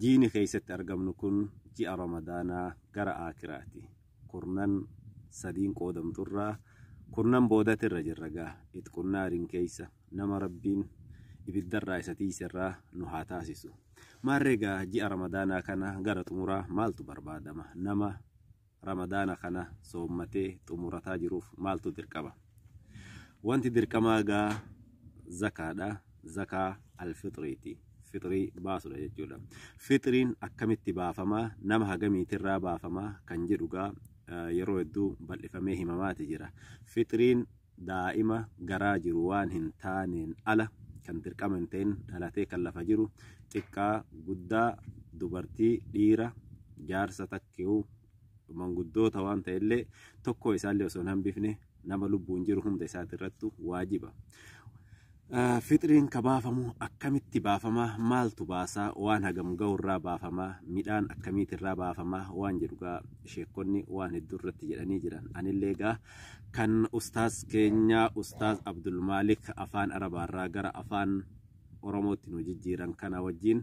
Jiini keessatti argamnu kun ji'a Ramadaanaa gara Aakhiraati. Kurnan sadiin qoodamtu irraa kurnan boodati irra jirra gaa itqun naariin keessa nama Rabbiin ibiddarraa isa tiiserraa nu haa taasisu. Maarree gaa ji'a Ramadaanaa kana gara xumuraa maaltu barbaadama nama Ramadaana kana soommatee xumurataa jiruuf maaltu dirqama? Wanti dirqamaa gaa zakaadha. Zakaa alfixriiti. Fixrii baasudha jechuudha. Fixriin akkamitti baafamaa? Nama hagamiitirraa baafamaa? Kan jedhu gaa yeroo hedduu bal'ifamee himamaati jira. Fixriin daa'ima garaa jiru waan hin taaneen ala kan dirqama hin ta'in dhalatee kan lafa jiru xiqqaa guddaa dubartii dhiira jaarsa takkeewu manguddoota waan ta'ellee tokkoo isaallee osoo hin hambifne nama lubbuun jiru hunda isaati irrattu waajiba. Fixriin ka baafamu akkamitti baafama? Maaltu baasa? Waan hagam gahu irraa baafama? Midhaan akkamiiti irraa baafama? Waan jedhu gaa sheekkonni waan hedduu irratti jedhanii jiran. Anillee gaa kan ustaaz keenya ustaaz Abdul Maalik afaan Arabaa irraa gara afaan Oromootti nu jijjiiran kana wajjin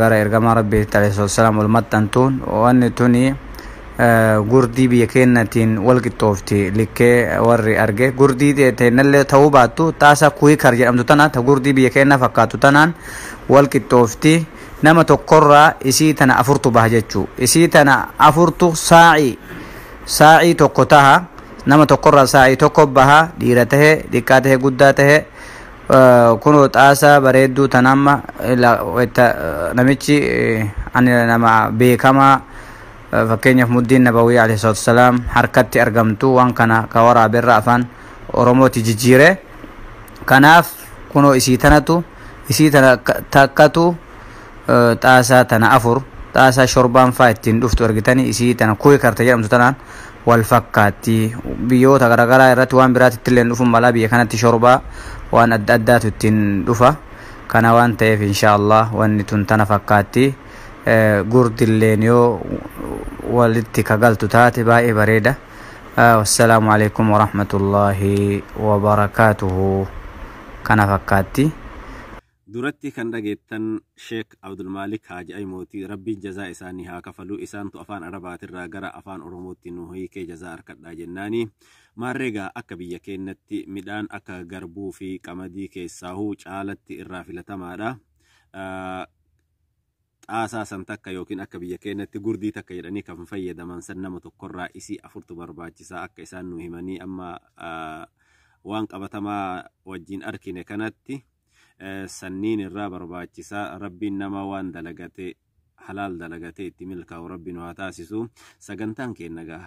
gara ergamaa rabbiitti alayhi wassalaam wal maxxantuun wanni tuni gurdii biyya keennatiin wal qixxoofti likkee warri arge gurdii teennallee ta'uu baattu xaasa kuikar jedhamtu tana ta gurdii biyya keennaa fakkaatu tanaan wal qixxoofti nama tokkorraa isii tana afurtu baha jechuu isii tana afurtu saa'ii saa'ii tokko taha nama tokkorraa saa'ii tokko baha dhiira tahe xiqqaa tahe guddaa tahe Kunoo xaasaa bareedduu tan amma wayta namichi ani nama beekamaa fakkeenyaaf muddiin nabawii alayhi salaatu wasalaam harkatti argamtu waan kana ka waraaberra afaan oromooti jijjiire kanaaf kunoo isii tanatu isii tana takkatu xaasaa tana afur xaasaa shorbaan faa ittiin dhuftu argitanii isii tana kuwe karte jedhamtu tanaan wal fakkaatti. Biyyoota garaagaraa irratti waan biraatti ittillee dhufuun malaa biyya kanatti shorbaa waan adda addaatu ittiin dhufa. Kana waan ta'eef inshaallah wanni tun tana fakkaatti. Gurdilleen yoo walitti kagaltu taate baay'ee bareeda. Wassalaamu alaikum warahmatullaahi wabarakaatuhu. Kana fakkaatti. Duratti kan dhageettan Sheek Abdulmaalik Haaji Aymooti Rabbiin jazaa isaanii haa kafalu isaantu afaan Arabaatirraa gara afaan Oromootti nu hiikee jazaa arkadhaa jennaani maarree gaa akka biyya keennatti midhaan akka garbuu fi qamadii keessaahu caalatti irraa filatamaadha xaasaa san takka yookiin akka biyya keennatti gurdii takka jedhanii kan fayyadaman san nama tokkorraa isii afurtu barbaachisaa akka isaan nu himanii amma waan qabatamaa wajjin arkine kanatti sanniin irraa barbaachisaa rabbiin namaa waan dalagate halaal dalagate itti milkaa'u rabbi nu haa taasisu sagantaan keenya gaa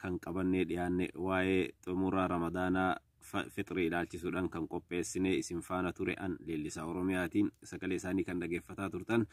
kan qabannee dhiyaanne waa'ee xumuraa ramadaanaa fixrii ilaalchisuudhaan kan qopheessine isin faana ture an leellisaa oromiyaati sagalee isaanii kan dhageeffataa turtan